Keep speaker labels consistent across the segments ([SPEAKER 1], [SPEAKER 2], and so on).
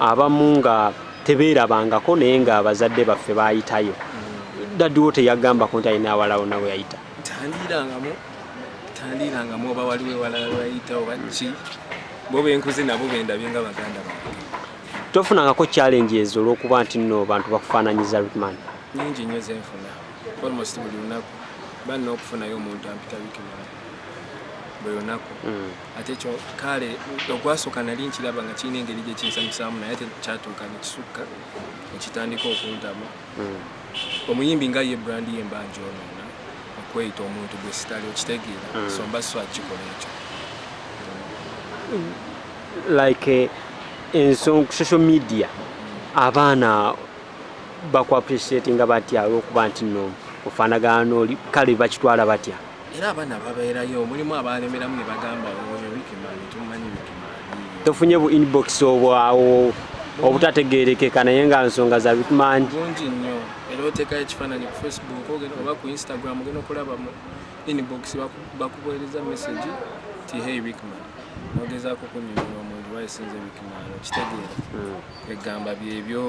[SPEAKER 1] abamu nga tebeerabangako naye nga abazadde baffe baayitayo daddiwo teyagambako nti alina awalawo nawe yayita tandiirangamu
[SPEAKER 2] tandiirangamu oba waliwo ewalala wayita oba ki bo benkuze nabo bendabye nga baganda ba tofunangako
[SPEAKER 1] challenge ezo olwokuba nti nno bantu bakufaananyiza rikman nyingi nnyo
[SPEAKER 2] zenfuna almost buli lunaku banna okufunayo omuntu ampitabikimala buli lunaku mm. ate ekyo kale ogwasooka nali nkiraba nga kirina engeri gye kinsanyusaamu naye ate kyatuuka ne kisukka ne kitandika okuntama hmm. omuyimbi nga ye brandi ye mbanja onoona okweyita omuntu gwe sitali okitegeera hmm. so mba swa kikola ekyo
[SPEAKER 1] like eh, ensonga social media abaana bakuappreciatinga batya olwokuba nti no ofaanagana nooli kale bakitwala batya era abaana
[SPEAKER 2] babeerayo mulimu abaalemeramu ne bagamba oyo wikimaani tumumanyi wikimaani tofunye bu
[SPEAKER 1] inbox obwawo obutategeerekeka naye nga nsonga za wikimaani bungi nnyo
[SPEAKER 2] era oteekayo ekifaananyi ku facebook ogenda oba ku instagram ogenda okulaba mu inbox bakubuereza message ti hey wikimaani nogezaako kunyonyola omuntu wayisinze wikimaani okitegeera hmm. egamba byebyo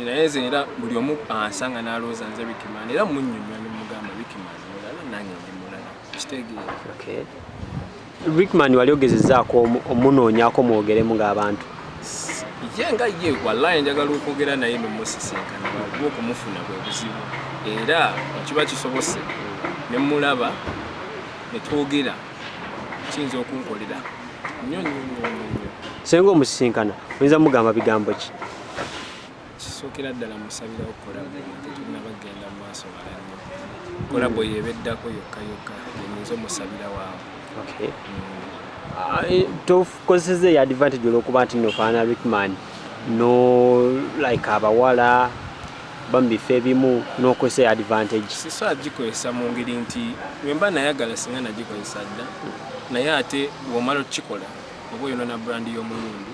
[SPEAKER 2] naye nze era buli omu ansanga nalowooza nze bikimana era munyumya nemugamba bikimana mulala nange ndi mulala kitegeera
[SPEAKER 1] rickman wali ogezezaako omunoonyako mwogeremu ng'abantu ye
[SPEAKER 2] nga ye wallahi njagala okwogera naye nomusisinkana wakuba okumufuna bwe buzibu era ekiba kisobose nemulaba netwogera kiyinza okunkolera nyo nyo nyo nyo
[SPEAKER 1] senga omusisinkana oyinza mugamba bigambo ki
[SPEAKER 2] Ekisookera ddala musabirawo kolabo nga tetunnaba kugenda mu maaso wala nnyo. Kolabo hmm. y'eba eddako yokka yokka enyinza omusabirawo awo. Okay. Ah, eh,
[SPEAKER 1] tokozeseza eyo advantage olwokuba nti nofaana rickman no like abawala bamubifo ebimu nokozesa eyo advantage siso agikozesa
[SPEAKER 2] mu ngeri nti wemba nayagala singa nagikozesa dda naye ate womala okukikola oba oyonona brand y'omulundu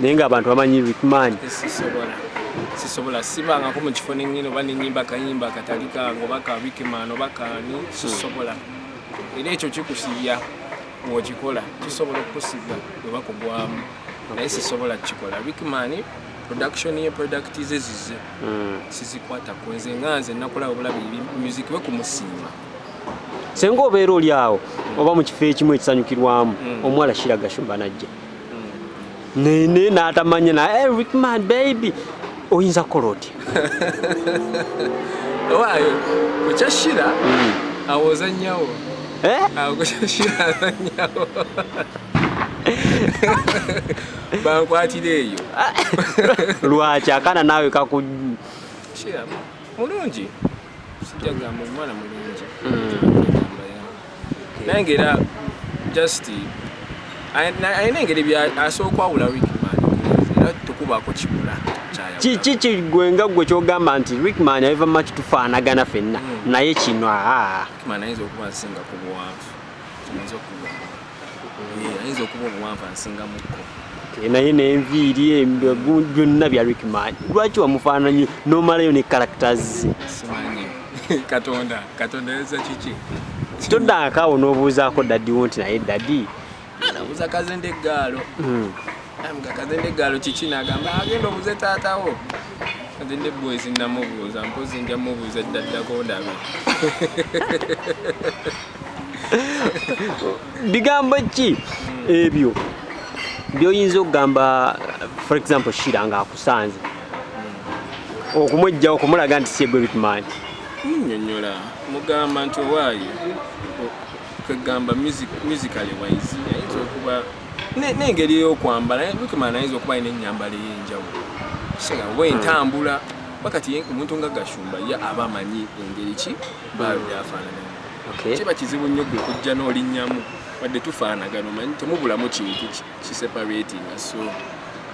[SPEAKER 1] naye nga abantu bamanyi rikman
[SPEAKER 2] sisobola sibangako mu kifo nenyini oba nenyimba kayimba katali kange oba ka rikman oba kani sisobola era ekyo kikusibya wokikola kisobola okukusibya oba kugwamu naye sisobola kukikola rikman production ye product ze zize hmm. sizikwata kwenze nga nze nakola obulabi music we kumusiima senga
[SPEAKER 1] obeera oli awo oba mu kifo ekimu ekisanyukirwamu hmm. omuwala kiraga shumba najja nene natamanya na hey, eh, man baby oyinza kukola otya
[SPEAKER 2] owaayo kukyashira hmm. awoza nyawo eh? bankwatira eyo
[SPEAKER 1] lwaki akana naawe kaku
[SPEAKER 2] mulungi sijja gamba omwana mulungi hmm. naye nga era just alina engeri asobola okwawula rickman era tukubaako kibula kiki
[SPEAKER 1] kigwe nga gwe kyogamba nti rickman ayiva maki tufaanagana fenna hmm. naye kino aa
[SPEAKER 2] ah. ayinza okuba obuwanvu ansingamukko naye
[SPEAKER 1] nenviiri byonna bya rickman lwaki wamufaananyi nomalayo ne characters
[SPEAKER 2] katonda katonda yeza kiki toddaakaawo
[SPEAKER 1] n'obuuzaako dadiwo nti naye dadi anabuuza kazende
[SPEAKER 2] eggaalo hmm. kazende eggaalo kiki nagamba agenda obuze taatawo kazende bwezi namubuuza mpozi nja mubuuza ddaddako ndabe
[SPEAKER 1] bigambo ki ebyo byoyinza okugamba for example shira nga akusanze okumwejja okumulaga nti siegwe bitman
[SPEAKER 2] nyonyola mugamba nti
[SPEAKER 1] owaayo
[SPEAKER 2] kwegamba musically wise ayinza okuba n'engeri eyokwambala bikimana ayinza okuba alina enyambala eyenjawulo kisinga oba entambula wakati omuntu nga gashumba ye aba amanyi engeri ki baayo byafaanana okay. kiba kizibu nnyo gwe kujja n'olinnyamu wadde tufaanagano manyi temubulamu kintu kiseparatinga so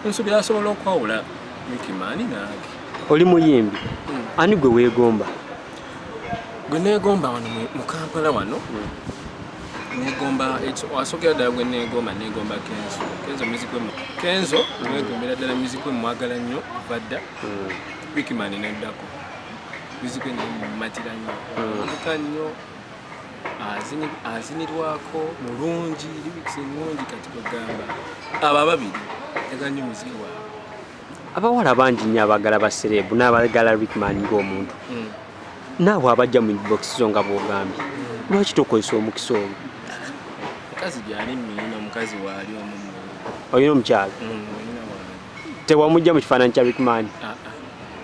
[SPEAKER 2] nsubira asobola okwawula mikimaani nange oli muyimbi
[SPEAKER 1] hmm. ani gwe weegomba
[SPEAKER 2] gwe neegomba wano mu kampala wano hmm. neegomba asokera ddala gwe neegomba neegomba kenzo kenzo muzikwe kenzo hmm. neegombera ddala muzikwe mwagala nnyo badda wikimaani neddako muzikwe naye mumatira nnyo omuka hmm. nnyo azinirwako mulungi libikisi nungi kati kwegamba abo ababiri aga nnyo muziki waabwe abawala
[SPEAKER 1] bangi nnyo abagala basereebu n'abagala rickman ng'omuntu hmm. naabwe abajja mu bokisi zo nga bwogambye hmm. lwaki tokozesa omukisa omu mukazi
[SPEAKER 2] gyali muyina mukazi waali omu olina omukyalo
[SPEAKER 1] tewamujja mu kifaananyi kya rickman ah,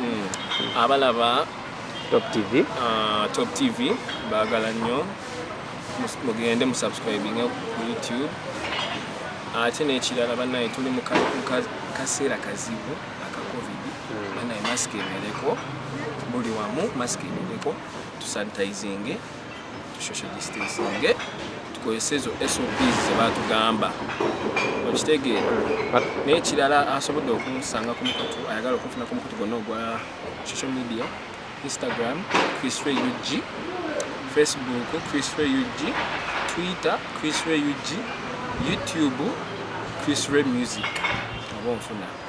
[SPEAKER 1] Hmm. abalaba
[SPEAKER 2] top tv
[SPEAKER 1] uh, top tv bagala nnyo
[SPEAKER 2] mugende musubscribing ku youtube ate n'ekirala banaye tuli mu kaseera kazibu aka covid hmm. banaye masiki ebeereko buli wamu masiki ebeereko tusanitizinge social distancing eh? tukozese ezo sops zebatugamba okitegeera naye ekirala asobodde okunsanga ku mukutu ayagala okunfuna ku mukutu gonna ogwa social media instagram chrisfrey ug facebook chrisfrey ug twitter chrisfrey ug youtube chrisfrey music oba onfuna